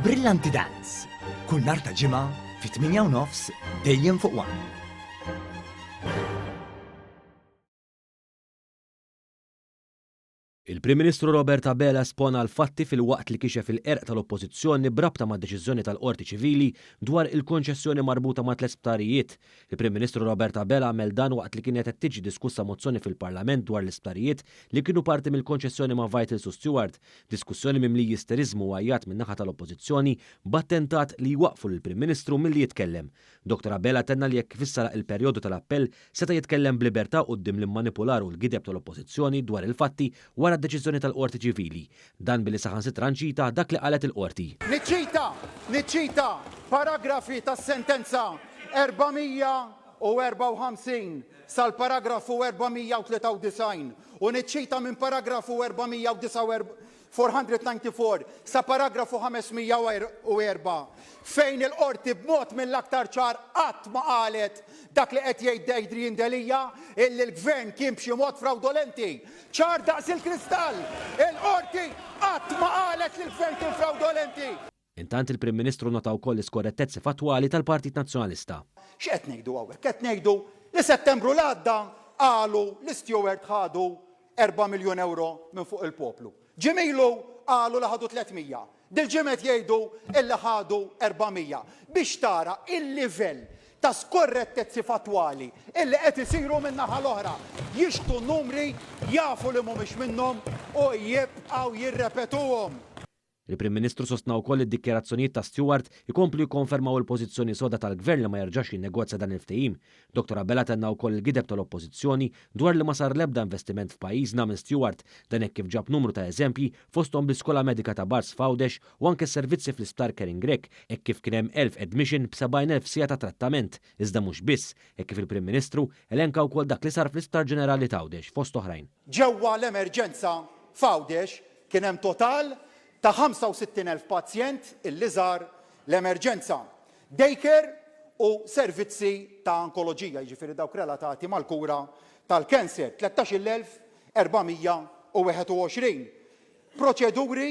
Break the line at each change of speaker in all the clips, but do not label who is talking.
Brillanti Dance, kull nhar ta' ġimgħa fit-8 u nofs dejjem fuq One.
Il-Prim Ministru Robert Abela espona l-fatti filwaqt li kixef il-qerq tal-Oppożizzjoni b'rabta mad-deċiżjoni tal-Qorti Ċivili dwar il-konċessjoni marbuta ma' tliet sptarijiet. Il-Prim Ministru Robert Abela għamel dan waqt li kienet qed tiġi diskussa mozzjoni fil-Parlament dwar l-isptarijiet li kienu parti mill-konċessjoni ma' Vital Su Steward. Diskussjoni mimli jisteriżmu u għajjat min-naħa tal-Oppożizzjoni b'attentat li jwaqqfu lill-Prim Ministru milli jitkellem. Dottor Abela tenna li hekk kif issa laq il-perjodu tal-appell seta' jitkellem b'libertà quddiem l-immanipular u l-gideb tal-Oppożizzjoni dwar il-fatti wara d-deċiżjoni tal-Qorti Ċivili. Dan billi saħansitra nċita dak li qalet il-Qorti. Niċċita,
niċċita paragrafi tas-sentenza 454 sal-paragrafu 493. u niċċita minn paragrafu 494 sa paragrafu 504 fejn il-Qorti b'mod mill-aktar ċar qatt ma qalet dak li qed jgħid Adrian Delia illi l-Gvern kien b'xi mod frawdolenti. Ċar daqs il-kristall, il-Qorti qatt ma qalet li l-Gvern kien frawdolenti. Intant il-Prim
Ministru nota wkoll l-iskorrettezzi fattwali tal-Partit Nazzjonalista. X'qed ngħidu
hawnhekk? Qed ngħidu li Settembru li għadda qalu li Steward ħadu erba' miljun ewro minn fuq il-poplu. Ġimgħa ilu qalu li ħadu tliet mija. Dil-ġimgħa qed jgħidu illi ħadu erba' mija. Biex tara il-livell ta' skorrettezzi fattwali illi qed isiru min-naħa l-oħra. Jixhdu numri, jafu li mhumiex minnhom u jibqgħu jirrepetuhom. Il-Prim
Ministru sostna wkoll li d-dikjarazzjonijiet ta' Steward ikomplu jikkonfermaw il-pożizzjoni soda tal-Gvern li ma jerġax jinnegozja dan il-ftehim. Dottor Abela tenna wkoll il-gideb tal-Oppożizzjoni dwar li ma sar l-ebda investiment f'pajjiżna minn Steward, dan hekk kif ġab numru ta' eżempji fosthom l-Iskola Medika ta' Bars f'Għawdex u anke s-servizzi fl-Isptar Karen Grech hekk kif kien hemm 1,000 admission b'sebgħin elf siegħa ta' trattament. Iżda mhux biss, hekk kif il-Prim Ministru elenka wkoll dak li sar fl-Isptar Ġenerali t'Għawdex fost oħrajn. Ġewwa l-emerġenza
f'Għawdex kien hemm total ta' 65 elf pazjent illi żar l-emerġenza, daycare u servizzi ta' onkoloġija, jiġifieri dawk relatati mal-kura tal-cancer, 13-il elf 421 proċeduri,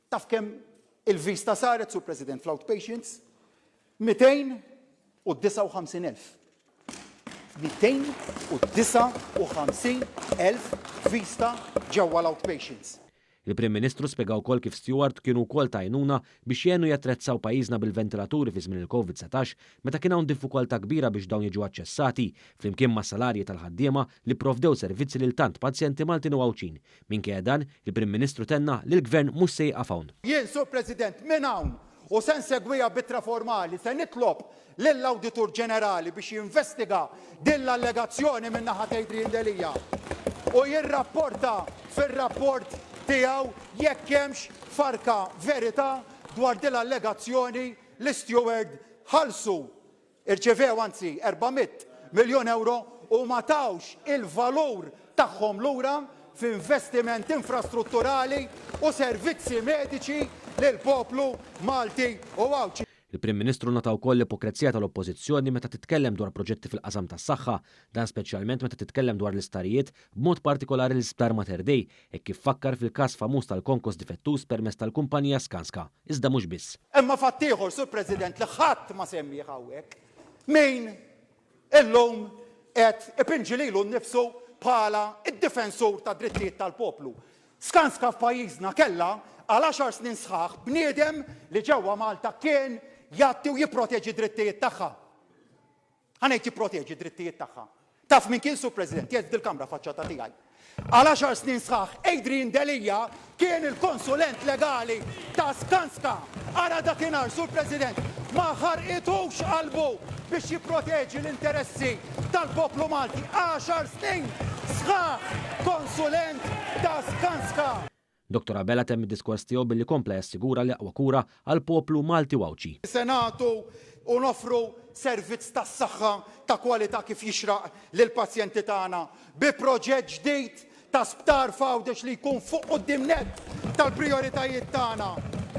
Taf kemm il-vista saret, Sur President, fl-outpatients? 259,000. 259,000 vista ġewwa l-outpatients. Il-Prim Ministru
spjega wkoll kif Steward kienu wkoll ta' għajnuna biex jgħinu jattrezzaw pajjiżna bil-ventilaturi fi żmien il-Covid 19 meta kien hawn diffikoltà kbira biex dawn jiġu aċċessati, flimkien mas-salarji tal-ħaddiema li pprovdew servizzi lil tant pazjenti Maltin u Għawdxin. Minkejja dan, il-Prim Ministru tenna li l-Gvern mhux se jieqaf hawn. Jien, Sur President,
minn hawn u se nsegwiha b'ittra formali, se nitlob lill-Awditur Ġenerali biex jinvestiga din l-allegazzjoni min-naħa ta' Adrian Delia u jirrapporta fir-rapport tiegħu jekk hemmx farka verità dwar din l-allegazzjoni li Steward ħallsu Irċevew anzi erba' mitt miljun ewro u ma tawx il-valur tagħhom lura f'investiment infrastrutturali u servizzi mediċi lill-poplu Malti u Għawdxi. Il-Prim Ministru nota
wkoll l-ipokrezija tal-Oppożizzjoni meta titkellem dwar proġetti fil-qasam tas-saħħa, dan speċjalment meta titkellem dwar l-isptarijiet, b'mod partikolari l-Isptar Mater Dei, hekk kif fakkar fil-każ famuż tal-konkos difettuż permezz tal-kumpanija Skanska, iżda mhux biss. Imma fatt ieħor, Sur
President, li ħadd ma semmieh hawnhekk, min illum qed ipinġi lilu nnifsu bħala d-difensur tad-drittijiet tal-poplu. Skanska f'pajjiżna kellha għal għaxar snin sħaħ bniedem li ġewwa Malta kien jgħatti u jipproteġi d-drittijiet tagħha. Ħa ngħid jipproteġi d-drittijiet tagħha. Taf min kien, Sur President? Qiegħed f'dil-Kamra faċċata tiegħi. Għal għaxar snin sħaħ Adrian Delia kien il-konsulent legali ta' Skanska. Ara dakinhar, Sur President, ma ħarqithux qalbu biex jipproteġi l-interessi tal-poplu Malti. Għaxar snin sħaħ konsulent ta' Skanska. Dottor Abela
temm id-diskors tiegħu billi kompla jassigura li aqwa kura għall-poplu Malti u Għawdxi. Se nagħtu
u noffru servizz tas-saħħa ta' kwalità kif jixraq lill-pazjenti tagħna bi proġett ġdid ta' sptar f'Għawdex li jkun fuq quddiem nett tal-prijoritajiet tagħna.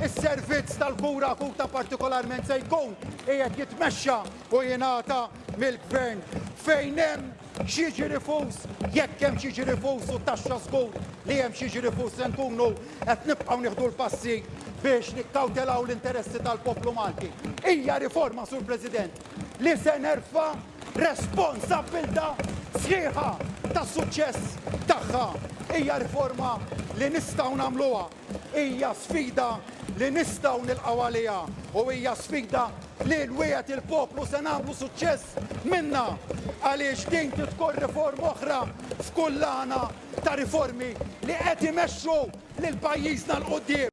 Is-servizz tal-kura akuta partikolarment se jkun qiegħed jitmexxa u jingħata mill-Gvern fejn hemm X'jiġri fus? Jekk hemm x'jiġri fus u taxxa żgur li hemm x'jiġri fus se nkunu qed nibqgħu nieħdu l-passi biex nikkawtelaw l-interessi tal-poplu Malti. Hija riforma, Sur President, li se nerfa' responsabbiltà sħiħa tas-suċċess tagħha. Hija riforma li nistgħu nagħmluha. Hija sfida li nistgħu nilqgħu għaliha u hija sfida li l-wiegħed il-poplu se nagħmlu suċċess minnha għaliex din trid tkun riforma oħra f'kullana ta' riformi li qed imexxu lil pajjiżna 'l quddiem.